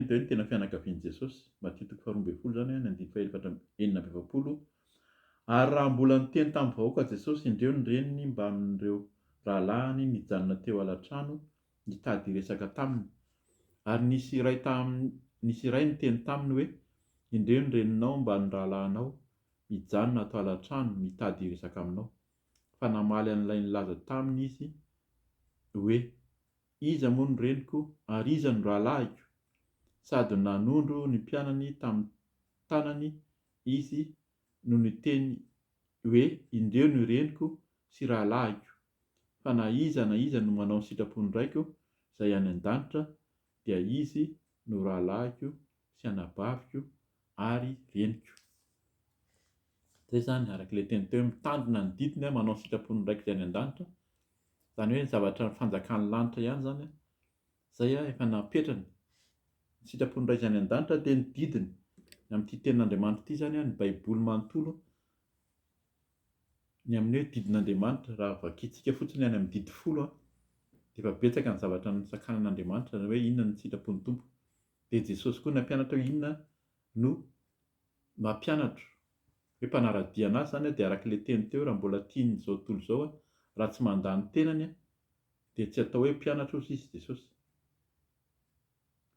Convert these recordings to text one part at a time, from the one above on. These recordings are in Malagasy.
Hita eo ny tena fianakavian'i Jesosy, Matthieu toko faharoa ambin'ny folo izany, ny andininy fahefatra amby enina amby efapolo, Ary raha mbola niteny tamin'ny vahoaka Jesosy indreo ny reniny mbamin'ireo rahalahiny nijanona teo alatrano nitady hiresaka taminy, ary nisy iray tam nisy iray niteny taminy hoe, Indreo ny reninao mba ny rahalahinao mijanona ato alatrano mitady hiresaka aminao. Fa namaly an'ilay nilaza taminy izy hoe, Iza moa ny reniko ary iza no rahalahiko? Sady nanondro ny mpianany tamin'ny tanany izy no niteny hoe, Indeo ny reniko sy rahalahiko, fa na iza na iza no manao ny sitrapon'ny Raiko izay any an-danitra, dia izy no rahalahiko sy anabaviko ary reniko. Zay zany araka ilay teny teo hoe mitandrina ny didiny manao ny sitrapon'ny Raiko izay any an-danitra, zany hoe ny zavatra fanjakan'ny lanitra ihany zany zay efa napetrany, ny sitrapon'ny Ray izay any an-danitra dia ny didiny, ny amin'ity tenin'Andriamanitra ity zany ny baiboly manontolo ny amin'ny hoe didin'Andriamanitra raha vakintsika fotsiny any amin'ny didy folo dia efa betsaka ny zavatra nosakanan'Andriamanitra hoe inona ny sitrapon'ny Tompo. Dia Jesosy koa nampianatra hoe inona no mampianatro. Hoe mpanara-dia an'Azy izany dia araka ilay teny teo raha mbola tiany izao tontolo izao raha tsy mandà ny tenany dia tsy atao hoe mpianatra ozy izy Jesosy.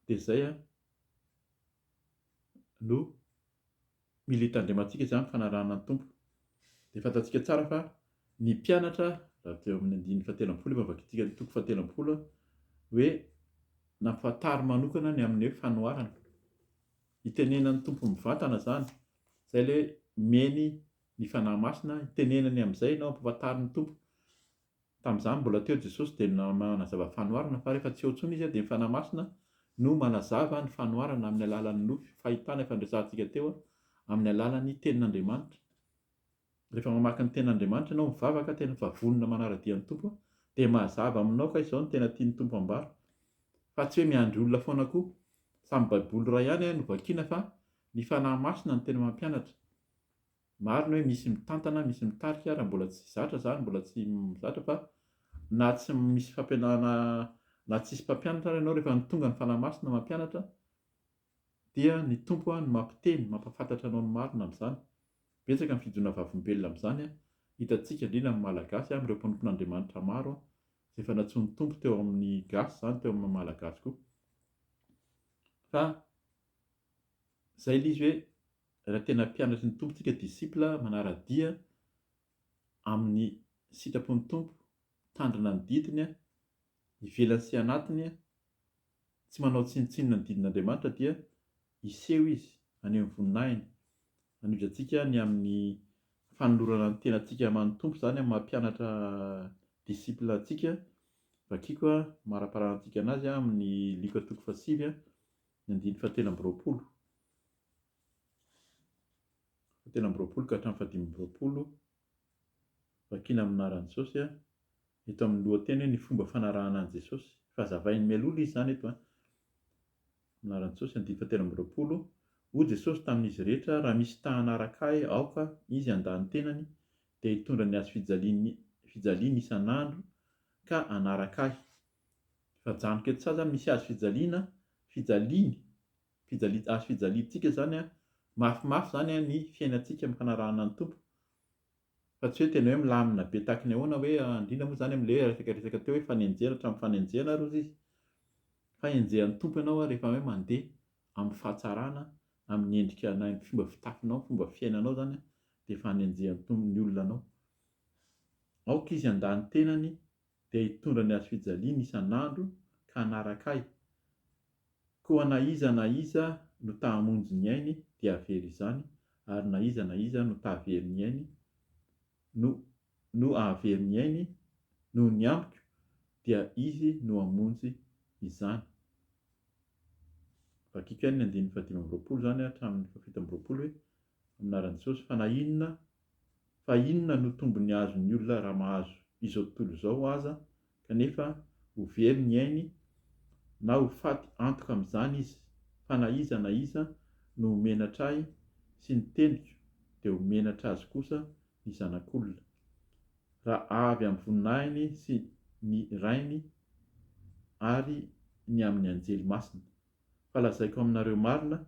Dia izay no Mila hitandremantsika izany fanarahana ny Tompo. Dia fantatsika tsara fa ny mpianatra, raha teo amin'ny andininy fahatelo ambin'ny folo efa navakintsika ny toko fahatelo ambin'ny folo hoe nampahantary manokana ny amin'ny hoe fanoharana. Itenenan'ny Tompo mivantana izany. Izay ilay hoe miheny ny Fanahy Masina, itenenany amin'izay ianao, ampahafantarin'ny Tompo. Tamin'izany mbola teo Jesosy dia nanazava fanoharana fa rehefa tsy eo intsony Izy dia ny Fanahy Masina no manazava ny fanoharana amin'ny alalan'ny nofy, fahitana efa niresahantsika teo amin'ny alalan'ny Tenin'Andriamanitra. Rehefa mamaky ny Tenin'Andriamanitra ianao mivavaka tena fa vonona manara-dia ny Tompo dia mazava aminao ka izao no tena tian'ny Tompo hambara fa tsy hoe miandry olona foana koa. Samy Baiboly iray ihany no vakiana fa ny Fanahy Masina no tena mampianatra. Marina hoe misy mitantana, misy mitarika ary mbola tsy zatra zany, mbola tsy zatra fa na tsy misy fampianarana na tsisy mpampianatra ary ianao rehefa tonga ny Fanahy Masina mampianatra dia ny Tompo no mampiteny, mampahafantatra anao ny marina amin'izany. Betsaka ny fijonoana vavolombelona amin'izany, hitantsika indrindra amin'ny Malagasy, amin'ireo mpanompon'Andriamanitra maro izay efa nantsoin'ny Tompo teo amin'ny gasy izany, teo amin'ny Malagasy koa. Fa izay ilay izy hoe Raha tena mpianatry ny Tompo tsika, disciple, manara-dia amin'ny sitrapon'ny Tompo, mitandrina ny didiny, ivelany sy anatiny, tsy manao tsinontsinona ny didin'Andriamanitra dia hiseho Izy, haneho ny voninahiny. Hanohitra antsika ny amin'ny fanolorana ny tenantsika aman'ny Tompo izany amin'ny maha mpianatra, disciple, antsika. Vakiako maraparanantsika anazy amin'ny Lioka toko fahasivy. Ny andininy fahatelo amby roapolo, fahatelo amby roapolo ka hatramin'ny fahadimy amby roapolo, vakiana amin'ny anaran'i Jesosy an, eto amin'ny lohateny hoe ny fomba fanarahana an'i Jesosy. Efa hazavainy mialoha izy izany eto an. Amin'ny anaran'i Jesosy, andininy fahatelo amby roapolo, hoy Jesosy tamin'izy rehetra, raha misy ta hanaraka ahy, aoka izy handà ny tenany, dia hitondra ny hazo fijaliany fijaliany isan'andro ka hanaraka ahy. Efa janoka etsy sa zany misy hazo fijaliana, fijaliany, fijali- hazo fijaliantsika zany an, mafimafy zany an ny fiainantsika amin'ny fanarahana ny Tompo, fa tsy hoe tena hoe milamina be tahaka ny ahoana hoe indrindra moa zany amin'ilay hoe resaka resaka teo hoe fanenjehana hatramin'ny fanenjehana ary hozy izy, fa enjehan'ny Tompo ianao an rehefa hoe mandeha amin'ny fahatsarana, amin'ny endrika na ny fomba fitafinao, fomba fiainanao zany an, dia efa anenjehan'ny Tompo ny olona anao. Aoka izy handà ny tenany dia hitondra ny hazo fijaliany isan'andro ka hanaraka ahy, koa na iza na iza no ta hamonjy ny ainy dia havery izany, ary na iza na iza no ta havery ny ainy no no hahavery ny ainy noho ny ambiko dia izy no hamonjy izany. Vakiko ihany ny andininy fahadimy amby roapolo izany hatramin'ny fahafito amby roapolo hoe, Anaran'i Jesosy fa na inona fa inona no tombony azon'ny olona raha mahazo izao tontolo izao aza kanefa ho very ny ainy na ho faty antoka amin'izany izy fa na iza na iza no ho menatra ahy sy ny teniko dia ho menatra azy kosa ny zanak'olona raha avy amin'ny voninahiny sy ny rainy ary ny amin'ny anjely masina. Fa lazaiko aminareo marina,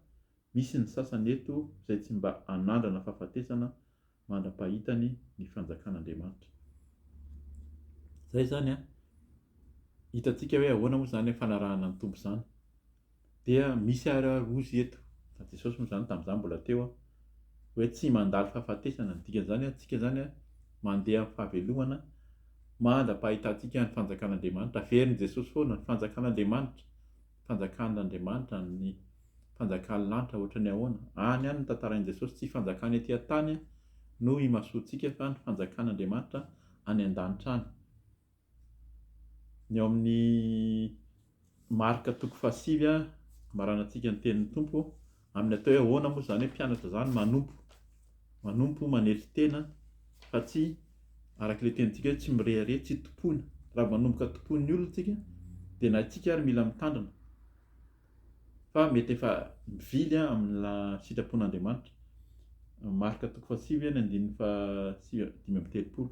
misy ny sasany eto izay tsy mba hanandrana fahafatesana mandra-pahitany ny fanjakan'Andriamanitra. Izay izany an! Hitantsika hoe ahoana moa izany fanarahana ny Tompo izany. Dia misy ary ary ozy eto, fa Jesosy moa izany tamin'izaho mbola teo an, hoe tsy mandalo fahafatesana. Ny dikan'izany an, tsika izany an, mandeha amin'ny fahavelomana mandra-pahitantsika ny fanjakan'Andriamanitra. Averin'i Jesosy foana ny fanjakan'Andriamanitra. Fanjakan'Andriamanitra any ny Fanjakan'ny lanitra ohatran'ny ahoana? Any any notantarain'i Jesosy tsy fanjakana ety an-tany no imasoantsika fa ny Fanjakan'Andriamanitra any an-danitra any. Ny ao amin'ny Marka toko fahasivy, amaranantsika ny tenin'ny Tompo Amin'ny atao hoe ahoana moa izany hoe mpianatra izany? Manompo. Manompo, manely tena fa tsy araka ilay tenintsika hoe tsy mirehareha, tsy tompoina. Raha manomboka tompoin'ny olona isika dia na isika ary mila mitandrina fa mety efa mivily amina sitrapon'Andriamanitra. Marka toko fahasivy ny andininy fahasivy dimy amby telopolo.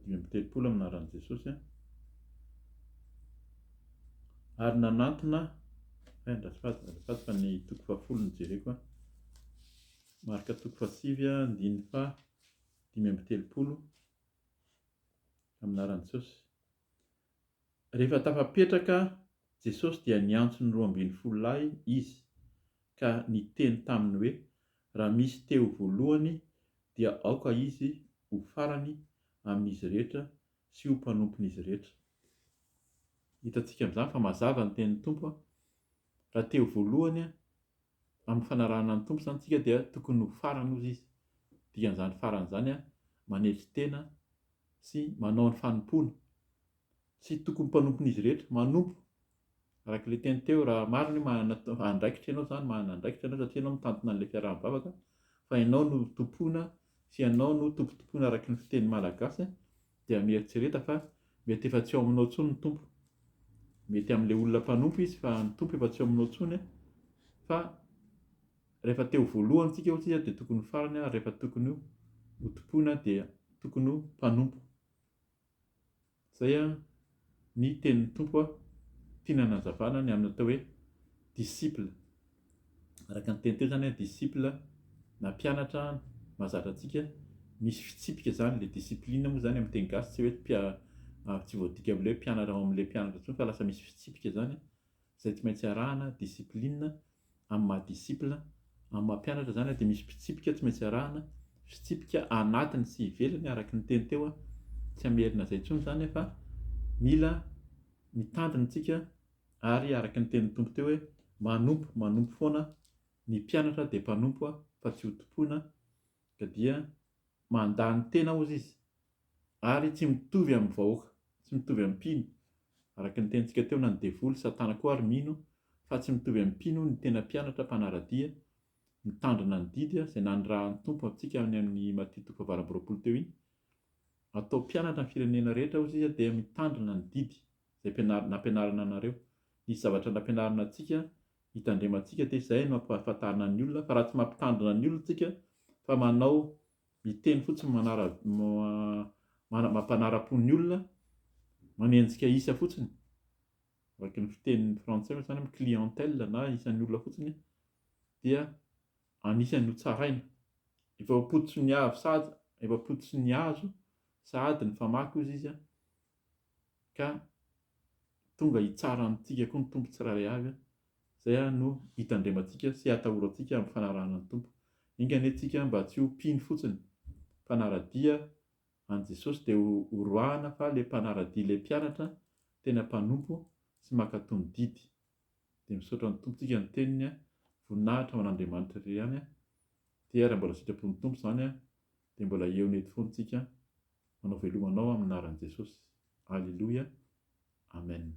Dimy amby telopolo amin'ny anaran'i Jesosy a. Ary nanantona, eh, andafady, andafady fa ny toko fahafolo no jereko a. Marka toko fahasivy a, andininy faha dimy amby telopolo amin'ny anaran'i Jesosy. Rehefa tafapetraka Jesosy dia niantso ny roa ambin'ny folo lahy izy ka niteny taminy hoe, Raha misy te ho voalohany dia aoka izy ho farany amin'izy rehetra sy ho mpanompon'izy rehetra. Hitantsika amin'izany fa mazava ny tenin'ny Tompo, raha te ho voalohany amin'ny fanarahana ny Tompo izany isika dia tokony ho farany ozy izy. Dikan'izany farany izany manetry tena sy manao ny fanompoana. Tsy tokony mpanompon'izy rehetra, manompo Araka ilay teny teo, raha marina hoe manana andraikitra ianao izany, manana andraikitra ianao satria ianao mitantana an'ilay fiaraha-mivavaka fa ianao no tompoina sy ianao no tompontompoina araka ny fiteny malagasy dia mieritrereta fa mety efa tsy ao aminao intsony ny Tompo. Mety amin'ilay olona mpanompo izy fa ny Tompo efa tsy ao aminao intsony an, fa rehefa te ho voalohany isika hoy tsika dia tokony ho farany ary rehefa tokony ho tompoina dia tokony ho mpanompo. Izay an ny tenin'ny Tompo an, tiany hanazavana ny amin'ny atao hoe disciple. Araka ny teny teo izany an, disciple na mpianatra mahazatra antsika, misy fitsipika izany ilay discipline moa izany amin'ny teny gasy tsy hoe tsy voadika amin'ny hoe mpianatra ao amin'ilay mpianatra intsony fa lasa misy fitsipika izany izay tsy maintsy arahana, discipline, amin'ny maha disciple, amin'ny maha mpianatra izany dia misy fitsipika tsy maintsy arahana, fitsipika anatiny sy ivelany araka ny teny teo aho, tsy hamerina izay intsony izany aho fa mila mitandrina isika ary araka ny tenin'ny Tompo teo hoe manompo, manompo foana, ny mpianatra dia mpanompo fa tsy ho tompoina ka dia mandà ny tena hozy izy Ary tsy mitovy amin'ny vahoaka, tsy mitovy amin'ny mpino, araka ny tenintsika teo, na ny devoly, Satana koa ary mino fa tsy mitovy amin'ny mpino ny tena mpianatra mpanara-dia mitandrina ny didy izay nanirahan'ny Tompo antsika any amin'ny Matio toko fahavalo amby roapolo teo iny. Atao mpianatra ny firenena rehetra hozy izy dia mitandrina ny didy izay mpianarina nampianarina anareo. Nisy zavatra nampianarina antsika hitandremantsika dia izay no ampahafantarina ny olona fa raha tsy mampitandrina ny olona tsika fa manao Miteny fotsiny manara mampanara-po ny olona, manenjika isa fotsiny, araka ny fitenin'ny frantsay moa zany hoe clientèle na isan'ny olona fotsiny dia anisan'ny ho tsaraina. Efa ampototry ny avy sady efa ampototry ny azo sady ny famaky hozy izy a, ka tonga hitsara amintsika koa ny Tompo tsirairay avy a! Izay ary no hitandremantsika sy hatahorantsika amin'ny fanarahana ny Tompo. Enga anie tsika mba tsy ho mpino fotsiny, mpanara-dia an'i Jesosy dia ho horoahana fa ilay mpanara-dia ilay mpianatra tena mpanompo sy mankatò ny didy. Dia misaotra ny Tompo tsika ny Teniny a! Voninahitra ho an'Andriamanitra irery ihany a! Dia raha mbola sitrapon'ny Tompo izany a! Dia mbola eo nety fony tsika manao veloma anao amin naran jesosy Alléluia Amen.